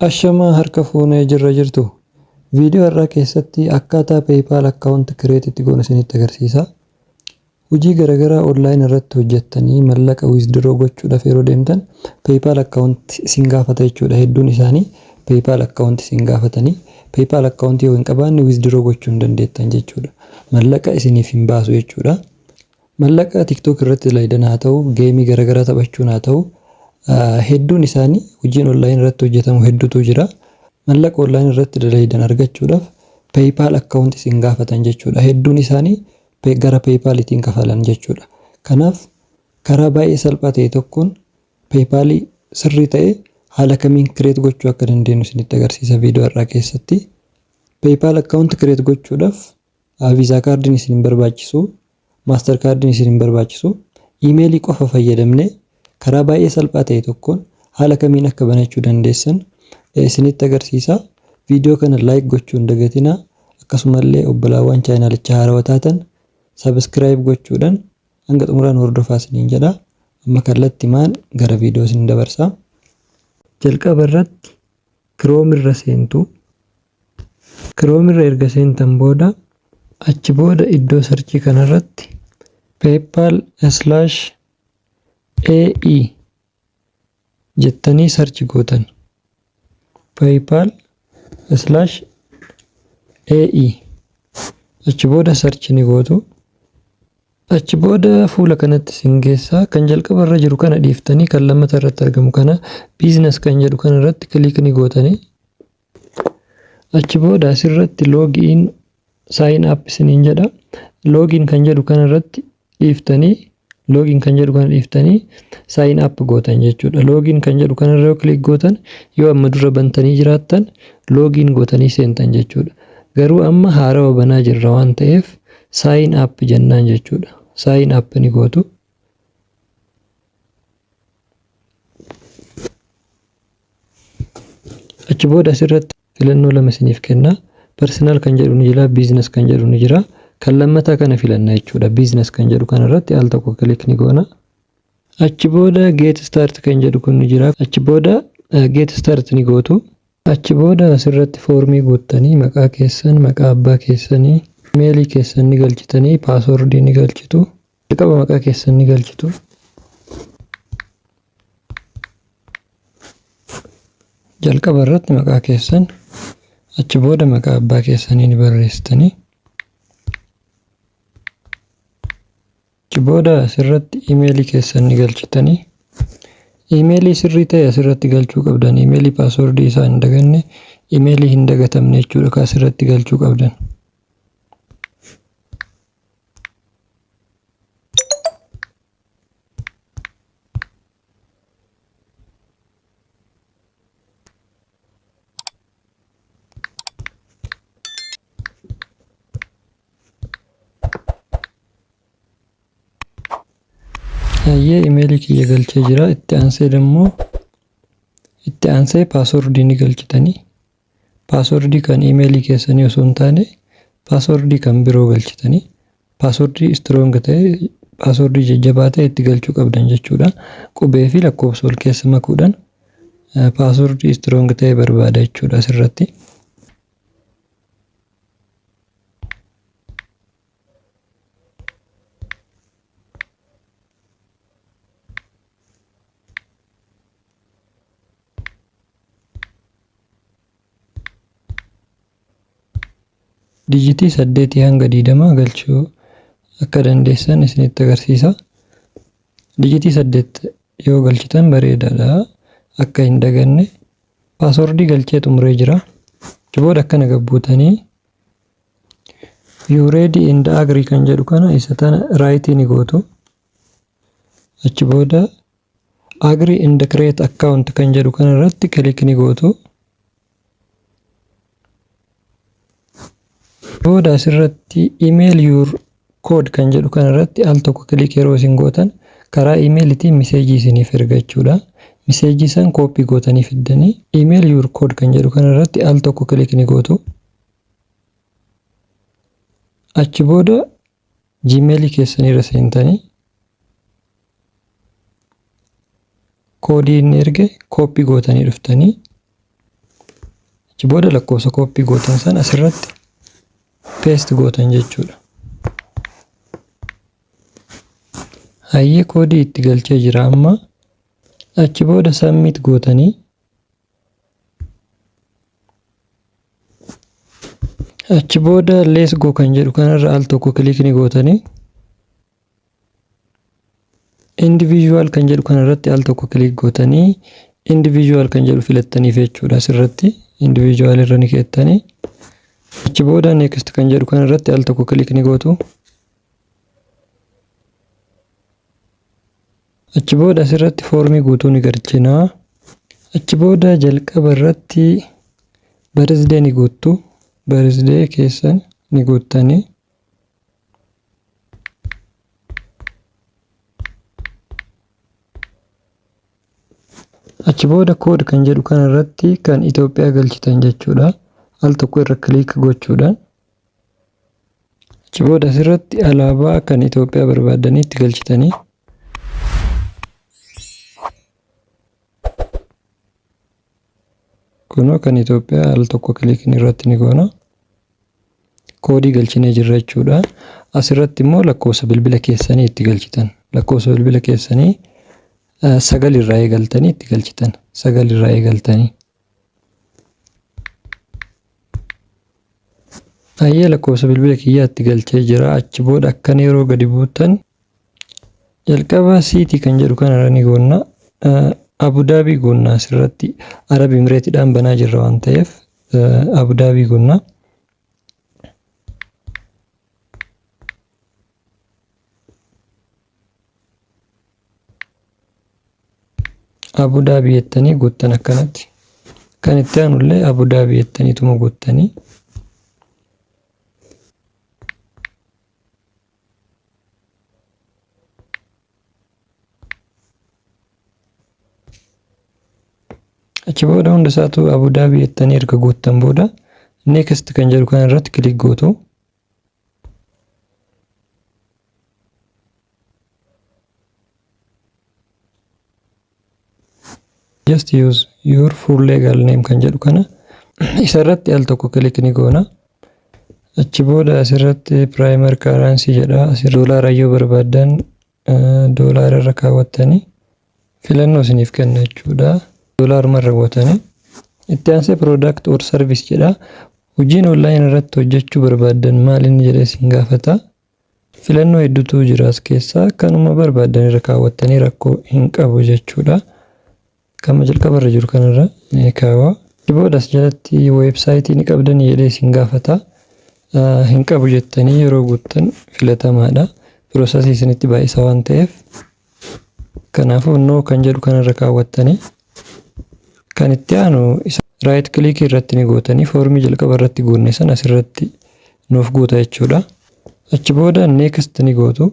Ashamaa harka fuunee jirra jirtu. Video har'aa keessatti akkaataa PayPal account create itti goonu isinitti agarsiisa. Hojii garagaraa online irratti hojjattanii mallaqa withdraw gochuudhaf yeroo deemtan PayPal account isin gaafata jechuudha. Hedduun isaanii PayPal account isin gaafatanii PayPal account yoo hin qabaanne withdraw gochuu hin dandeettan jechuudha. Mallaqa isiniif hin baasu jechuudha. Mallaqa TikTok irratti dalaydan haa ta'u, game garagaraa taphachuun haa ta'u, hedduun isaanii hojiin online irratti hojjetamu heddutu jira. Mallaqa online irratti dalaydan argachuudhaf PayPal account isin gaafatan jechuudha. Hedduun isaanii gara PayPal itiin kafalan jechuudha. Kanaaf karaa baay'ee salphaa ta'e tokkoon PayPal sirrii ta'e haala kamiin create gochuu akka dandeenyu isinitti agarsiisa video har'aa keessatti. PayPal account create gochuudhaf A Visa Card'n isin hin barbaachisu, Master Card'n isin hin barbaachisu. Email qofa fayyadamnee karaa baay'ee salphaa ta'e tokkoon haala kamiin akka banachuu dandeessan isinitti agarsiisa. Video kana like gochuu hin dagatinaa. Akkasumallee obbolaawwan chaayinaalicha haarawa taatan subscribe gochuudhaan hanga xumuraa nu hordofaa isiniin jedha. Amma kallattimaan gara video isin dabarsa. Jalqaba irratti Chrome irra seentu. Chrome irra erga seentan booda achi booda iddoo sarchii kana irratti paypal slash AE jettanii sarchi gootan. paypal slash AE achi booda sarchi ni gootu. Achi booda fuula kanatti isin geessaa kan jalqaba irra jiru kana dhiiftanii kan lammata irratti argamu kana business kan jedhu kana irratti click ni gootanii Achi booda asirratti log in sign up isiniin jedha. Log in kan jedhu kana irratti dhiiftanii log in kan jedhu kana dhiiftanii sign up gootan jechuudha. Log in kan jedhu kana irra yoo click gootan yoo amma dura bantanii jiraattan log in gootanii seentan jechuudha. Garuu amma haarawa banaa jirra waan ta'eef sign up jennaan jechuudha. Sign up ni gootu. Achi booda asirratti filannoo lama isiniif kenna. Personal kan jedhu ni jira, business kan jedhu ni jira. Kan lammataa kana filanna jechuudha. Business kan jedhu kanarratti al tokko click ni goona. Achi booda get start kan jedhu kun ni jira. Achi booda get start ni gootu. Achi booda asirratti foormii guuttanii maqaa keessan, maqaa abbaa keessanii, imeelii keessan ni galchitanii paaswordii ni galchitu. Jalqaba maqaa keessan ni galchitu. Jalqaba irratti maqaa keessan achi booda maqaa abbaa keessanii ni barreessitanii. Achi booda asirratti imeelii keessan ni galchitanii. Imeelii sirrii ta'e asirratti galchuu qabdan. Imeelii paaswordii isaa hin daganne, imeelii hin dagatamne jechuudha kan asirratti galchuu qabdan. Hayyee imeelii kiyya galchee jira. Itti aansee immoo itti aansee paaswordii ni galchitanii. Password kan email keessanii osoo hin taane password kan biroo galchitanii password strong ta'e password jajjabaa ta'e itti galchuu qabdan jechuudha. Qubee fi lakkoofsa wal keessa makuudhaan password strong ta'e barbaada jechuudha asirratti. dijitii saddeetii hanga diidamaa galchuu akka dandeessan isinitti agarsiisa. Dijitii saddeet yoo galchitan bareedaadha. Akka hin daganne paaswordii galchee xumuree jira. Booda akkana gabbuutanii you ready and agree kan jedhu kana isa tana raayitii ni gootu. Achi booda agree and create account kan jedhu kana irratti click ni gootu. Booda asirratti email your code kan jedhu kana irratti al tokko click yeroo isin gootan karaa emailitiin miseejii isiniif erga jechuudha. Miseejii san kooppii gootanii fiddanii email your code kan jedhu kana irratti al tokko click ni gootu. Achi booda Gmail keessanii irra seentanii koodii inni erge kooppii gootanii dhuftanii achi booda lakkoofsa kooppii gootan san asirratti paste gootan jechuudha. Hayyee koodii itti galchee jira amma achi booda submit gootanii achi booda let's go kan jedhu kanarra al tokko kiliik ni gootanii individual kan jedhu kanarratti al tokko kiliik gootanii individual kan jedhu filattaniif jechuudha asirratti individual irra ni keessanii achi booda next kan jedhu kanarratti al tokko kiliik ni gootu Achi booda asirratti foormii guutuu ni galchina. Achi booda jalqaba irratti birthday ni guuttu. Birthday keessan ni guuttanii. Achi booda code kan jedhu kana irratti kan Itoophiyaa galchitan jechuudha. Al tokko irra click gochuudhaan Achi booda asirratti alaabaa kan Itoophiyaa barbaaddanii itti galchitanii kunoo kan Itoophiyaa al tokko kiliikiin irratti ni goona. Koodii galchinee jirra jechuudha. Asirratti immoo lakkoofsa bilbila keessanii itti galchitan. Lakkoofsa bilbila keessanii sagal irraa eegaltanii itti galchitan. Sagal irraa eegaltanii. Ayyee lakkoofsa bilbila kiyyaatti galchee jira. Achi booda akkan yeroo gadi buutan jalqaba siitii kan jedhu kanarra ni goonna. Abudaabii goonna asirratti Arab Imireetidhaan banaa jirra waan ta'eef Abudaabii goonna. Abu Dhabi jettanii guuttan akkanatti. Kan itti aanullee Abu Dhabi jettaniituma guuttanii. Achi booda hunda isaatu Abu Dhabi jettanii erga guuttan booda next kan jedhu kana irratti kilik gootu. just use your full legal name kan jedhu kana isa irratti al tokko kilik ni goona. Achi booda asirratti primary currency jedha. Asirra doolaara yoo barbaaddan Doolaara irra kaawwattanii filannoo isiniif kenna jechuudha. Doolaaruma irra bu'atanii. Itti aansee product or service jedha. Hojiin online irratti hojjechuu barbaaddan maal inni jedhee isin gaafata. Filannoo hedduutu jira as keessaa kanuma barbaaddan irra kaawwattanii rakkoo hin qabu jechuudha. Gama jalqaba irra jiru kana irra ni kaawa. Achi booda as jalatti website ni qabdanii jedhee isin gaafata. Hin qabu jettanii yeroo guuttan filatamaadha. Process isinitti baay'isa waan ta'eef. Kanaafuu no kan jedhu kana irra kaawwattanii kan itti aanu isa right click irratti ni gootanii foormii jalqaba irratti guunne san asirratti nuuf guuta jechuudha. Achi booda next ni gootu.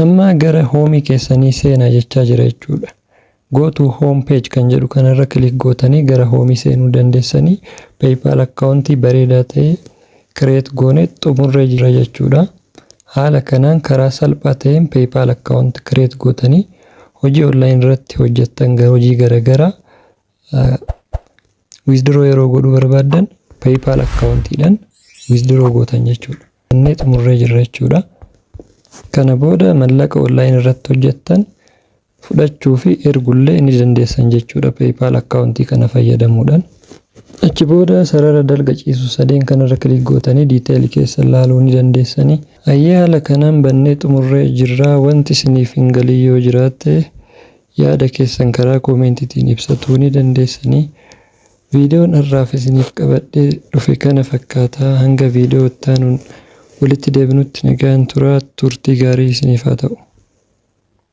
Amma gara home keessanii seenaa jechaa jira jechuudha. Go to home page kan jedhu kanarra click gootanii gara home seenuu dandeessanii PayPal account bareedaa ta'e create goone xumurree jirra jechuudha. Haala kanaan karaa salphaa ta'een PayPal account create gootanii hojii online irratti hojjettan hojii garagaraa Withdraw yeroo godhuu barbaaddan PayPal akkaawuntiidhaan withdraw gootan jechuudha. Inni xumurree jirra jechuudha. Kana booda mallaqa online irratti hojjettan fudhachuu fi ergullee ni dandeessan jechuudha PayPal akkaawuntii kana fayyadamuudhaan. Achi booda sarara dalga ciisu sadeen kanarra click gootanii detail keessan laaluu ni dandeessanii. Ayyee haala kanaan bannee xumurree jirra. Wanti isiniif hin galin yoo jiraatte Yaada keessan karaa koomentitiin ibsatuu ni dandeessanii. Viidiyoon har'aaf isiniif qabadhee dhufe kana fakkaata. Hanga viidiyoo itti aanuun walitti deebinutti nagaan turaa. Turtii gaarii isiniif haa ta'u.